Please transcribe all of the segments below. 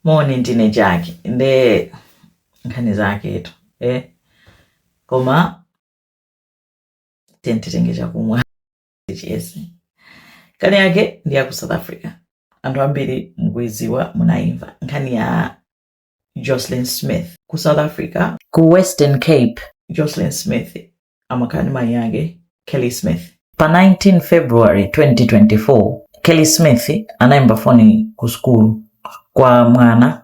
moni ndine Jackie nde nkhani zaketu eh? koma tantitenge chakumwa chi yes nkhani yake ndi ya ku south africa anthu ambiri mukuiziwa munayimva nkhani ya jocelyn smith ku south africa ku western cape jocelyn smith amakhala ndi mayi ake kelly smith pa 19 february 2024 kelly smith anayimba foni ku sukulu kwa mwana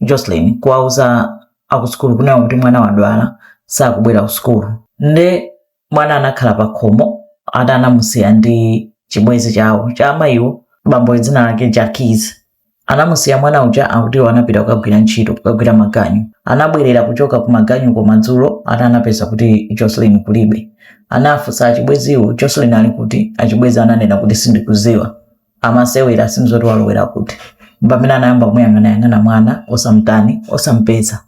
jocelyn kuwauza akusukulu kunayo kuti mwana wadwala sakubwera ku sukulu nde mwana anakhala pa khomo ati anamusiya ndi chibwenzi chawo cha amayiwo bambo dzina lake jacquen Anamusiya mwana uja akutiwo anapita kukagwira ntchito kukagwira maganyu. Anabwerera kuchoka ku maganyuko madzulo ati anapeza kuti Jocelyn kulibe. Anafunsa achibweziwo, Jocelyn ali kuti? Achibwezi ananena kuti sindikuziwa. Amasewera, sindiziwa zoti walowera kuti. Mpamene anayamba kumuyang'anayang'ana mwana osamtani, osampeza.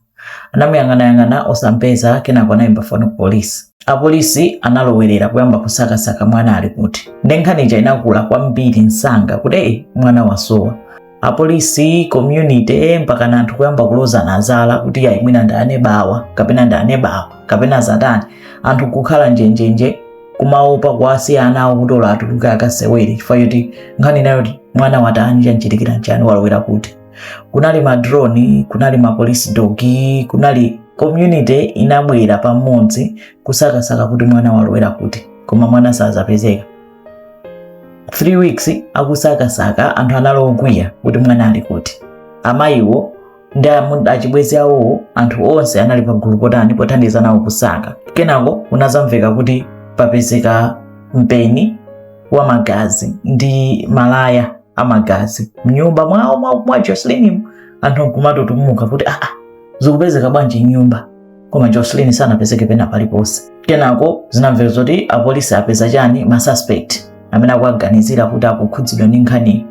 Anamuyang'anayang'ana osampeza kenako anayimba foni ku polisi. Apolisi analowerera kuyamba kusakasaka mwana ali kuti. Nde nkhani ija inakula kwambiri msanga kuti eyi mwana wasowa. Apolisi, community mpakana anthu kuyamba kulozana zala kuti ayi mwina ndi aneba awa kapena ndi aneba awa kapena atani. Anthu kukhala njenjenje kumaopa kuwasiya ana awo kuti olo atuluke akasewere chifukwa choti nkhani imeneyo kuti mwana watani chamchitikira nchani walowera kuti. kunali madroni kunali ma police dog kunali community inabwera pamodzi kusakasaka kuti mwana walowera kuti koma mwana sazapezeka 3 weeks akusakasaka anthu anali okwiya kuti mwana ali kuti amayiwo ndi amu- achibwezi awowo anthu onse anali pagulu potani pothandiza nawo kusaka kenako kunazamveka kuti papezeka mpeni wa magazi ndi malaya amagazi mnyumba mwawo mwa, mwa Jocelyn anthu nkumatutumuka kuti aa ah, ah, zikupezeka bwanji mnyumba koma Jocelyn sanapezeke pena paliponse kenako zinamveka zoti apolisi apeza chani ma suspect amene akuwaganizira kuti akukhudzidwa ndi nkhaniyi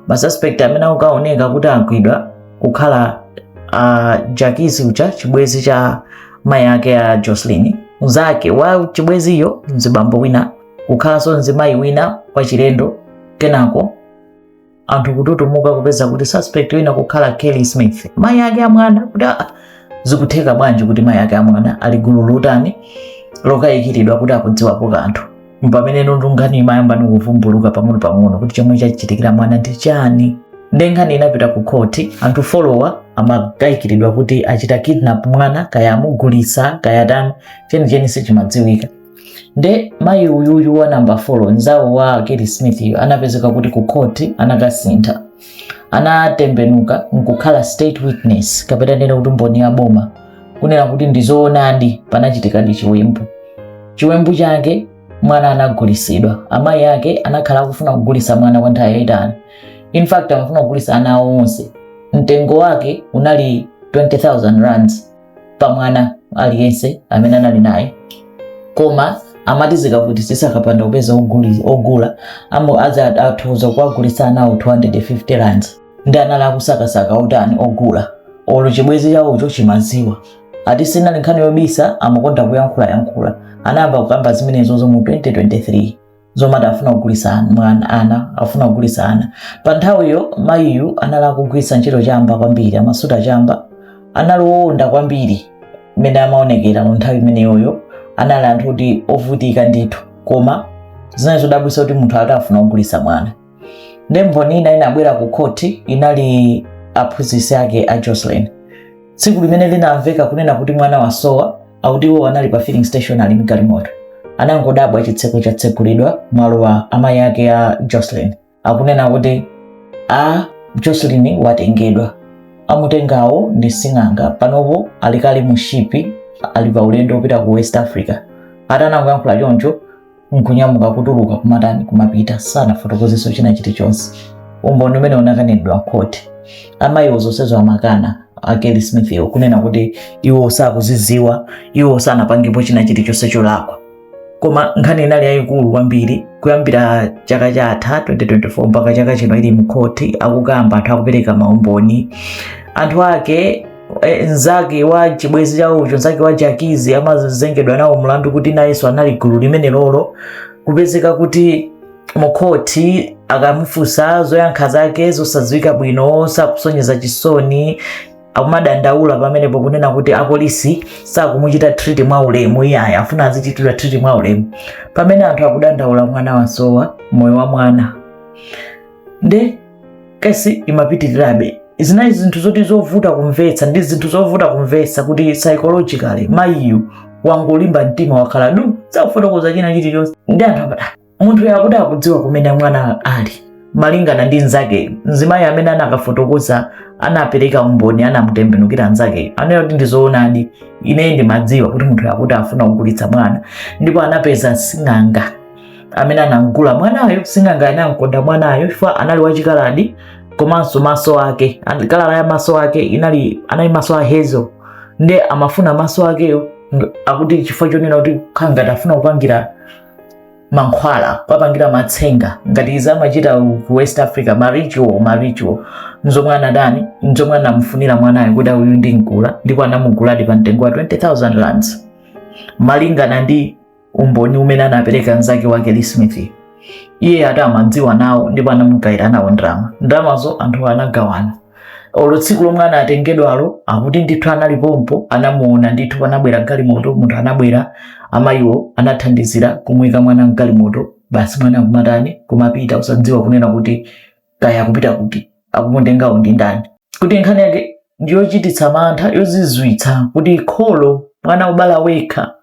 ma suspect amene akukaoneka kuti agwidwa kukhala uh, Jacquen uja chibwezi cha mai ake a Jocelyn mzake wa chibweziyo mzibambo wina kukhalanso mzimayi wina wachilendo kenako anthu kututumuka kupeza kuti suspect wina kukhala Kelly Smith mayi ake amwana kuti ah, zikutheka bwanji kuti mayi ake amwana ali mgulu lotani lokayikiridwa kuti akudziwapo kanthu mpamene ndi nkhani imayamba kuvumbuluka pang'ono pang'ono kuti chomwe chachitikira mwana ndi chani nde nkhani inapita ku khoti anthu folo wa amakayikiridwa kuti achita kidnap mwana kaya amugulisa kaya atani chenicheni sichimadziwika nde mayi uyuyu wa namba 4 nzawo wa kelly smith yo anapezeka kuti ku khoti anakasintha anatembenuka nkukhala state witness kapena nena kuti mboni ya boma kunena kuti ndizoonadi panachitikadi chiwembu chiwembu chake mwana anagulisidwa amayi ake anakhala akufuna kugulisa mwana kwa nthawi yayitali in fact amafuna kugulisa ana awo onse mtengo wake unali 20000 rands pa mwana aliyense amene anali naye koma amati zikavutisitsa akapanda kupeza oguli- ogula amene azaathuza kuwagulitsa anawo 250 rands nde anali akusakasaka otani ogula olo chibwezi chawocho chimaziwa ati sinali nkhani yobisa amakonda kuyankhulayankhula anayamba kukamba zimenezozo mu 2023 zomati afuna kugulisa an- mwana ana afuna kugulisa ana pa nthawiyo mayiyu anali akugwiritsa ntchito chamba kwambiri amasuta chamba anali owonda kwambiri mmene amaonekera mu nthawi imeneyoyo anali anthu oti ovutika ndithu koma zinali zodabwisa kuti munthu ati afuna kugulisa mwana nde mboni ina inabwera ku khoti inali aphunzitsi ake a jocelyn tsiku limene linamveka kunena kuti mwana wasowa akuti iwo anali pa filling station ali mgalimoto anangodabwa chitseko chatsegulidwa walowa amayi ake a jocelyn akunena kuti a jocelyn watengedwa amutengawo ndi sing'anga panopo ali kale mu shipi ali pa ulendo wopita ku west africa atanangoyankhula choncho nkunyamuka kutuluka kumatani kumapita sanafotokozeso china chilichonse umboni umene unakanidwa mkhoti amayiwo zonsezo amakana a kelly smith iwo kunena kuti iwo sakuziziwa iwo sanapangepo china chilichonse cholakwa koma nkhani inali yayikulu kwambiri kuyambira chaka chatha 2024 mpaka chaka chino ili mkhoti akukamba anthu akupereka maumboni anthu ake e, nzake wa chibwezi chawocho nzake wa jakizi amazengedwa nawo mlandu kuti nayenso anali gulu limenelolo kupezeka kuti mukhoti akamufunsa zoyankha zake zosadziwika bwino sakusonyeza chisoni akumadandaula pamenepo kunena kuti apolisi sakumuchita treat mwa ulemu iyayi afuna azichitidwa treat mwa ulemu pamene anthu akudandaula mwana wasowa moyo wa mwana nde kesi imapitirirabe zinali zinthu zoti zovuta kumvetsa ndi zinthu zovuta kumvetsa kuti psychologically mayiyu wangolimba mtima wakhala du sakufotokoza china chilichonse nde anthu amati "Ah, munthu yakuti akudziwa kumene mwana ali malingana ndi nzakeyo mzimayi amene anakafotokoza anapereka umboni anamutembenukira nzakeyo anena kuti ndizoonadi ineyi ndimadziwa kuti munthu yakuti afuna kugulitsa mwana ndipo anapeza sing'anga amene anamgula mwanayo sing'anga anamkonda mwanayo chifukwa anali wachikaladi komanso maso ake an- kala ya maso ake inali anali maso a hazel nde amafuna maso akeyo akuti chifukwa chonena kuti kaya afuna kupangira mankhwala kupangira matsenga ngati zimachita ku ku west africa maritual maritual nzomwe anadani nzomwe anamufunira mwanayo kuti uyu ndi mgula ndipo anamuguladi pa mtengo wa 20000 rands malingana ndi umboni umene anapereka mnzake wa Kelly Smith. Iye akuti amadziwa nawo ndipo anamugayira nawo ndalama. Ndalamazo anthu anagawana. Olo tsiku lomwe anatengedwalo akuti ndithu anali pompo anamuona ndithu panabwera galimoto munthu anabwera amayiwo anathandizira kumuyika mwana mgalimoto basi mwana kumatani kumapita osadziwa kunena kuti kaya akupita kuti akumutengawo ndi ndani kuti nkhani yake ndiyochititsa mantha yozizwitsa kuti kholo mwana wobala wekha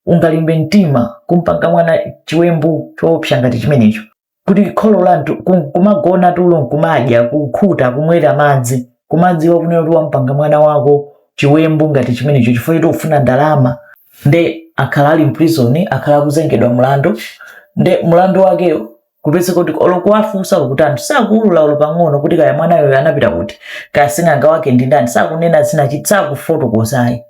ungalimbe mtima kumpanga mwana chiwembu choopsa ngati chimenecho kuti kholo la munthu kumagona tulo nkumadya kukhuta kumwera madzi kumadziwa kunena kuti wampanga mwana wako chiwembu ngati chimenecho chifukwa choti ufuna ndalama nde akhala ali mprison akhala akuzengedwa mlandu nde mlandu wakewo kupezeka kuti olo kuwafunsa olo kuti anthu sakuulula olo pang'ono kuti kaya mwanayo anapita kuti kaya sing'anga wake ndi ndani sakunena zinachitika sakufotokoza ayi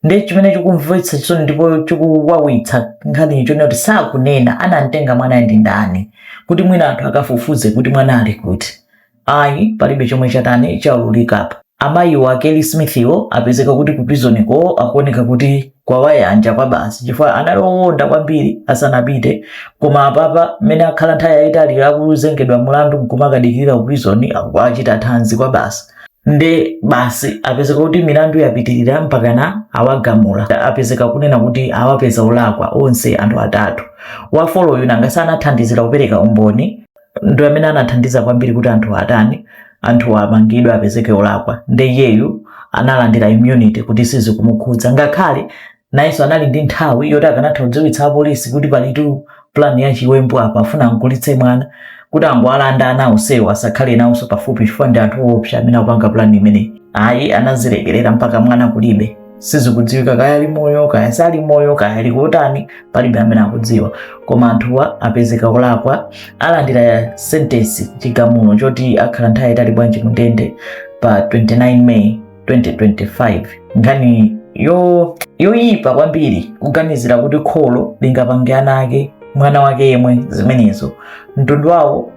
ndiye chimene chikumvetsa chisoni ndipo chikuwawitsa nkhaniyi chonena kuti sakunena anamtenga mwanayo ndi ndani kuti mwina anthu akafufuze kuti mwana ali kuti ayi palibe chomwe chatani chaululikapo amayiwo a kelly smithiwo apezeka kuti ku prisoniko akuoneka kuti kwawayanja kwabasi chifukwa anali owonda kwambiri asanapite koma apapa mmene akhala nthawi yayitali akuzengedwa mulandu nkumakadikirira ku prison akukachita thanzi kwabasi nde basi apezeka kuti milandu yapitirira mpakana awagamula apezeka kunena kuti awapeza olakwa onse anthu atatu wafoloyo nanga sanathandizira kupereka umboni ndi amene anathandiza kwambiri kuti anthu atani anthu amangidwe apezeke olakwa nde iyeyu analandira immunity kuti sizikumukhudza ngakhale nayenso anali ndi nthawi yoti akanatha kudziwitsa apolisi kuti palitu plan ya chiwembu apa afuna amgulitse mwana kuti angowalanda ana onsewo asakhale nawonso pafupi chifukwa ndi anthu oopsa amene akupanga plan imeneyi ayi anazilekerera mpaka mwana kulibe sizikudziwika kaya ali moyo kaya sali moyo kaya ali kutani palibe amene akudziwa koma anthuwa apezeka kulakwa alandira sentensi chigamulo choti akhala nthawi yaitali bwanji ku ndende pa 29 may 2025 nkhani yoyipa kwambiri kuganizira kuti kholo lingapange ana ake mwana wake yemwe zimenezo mtundu wawo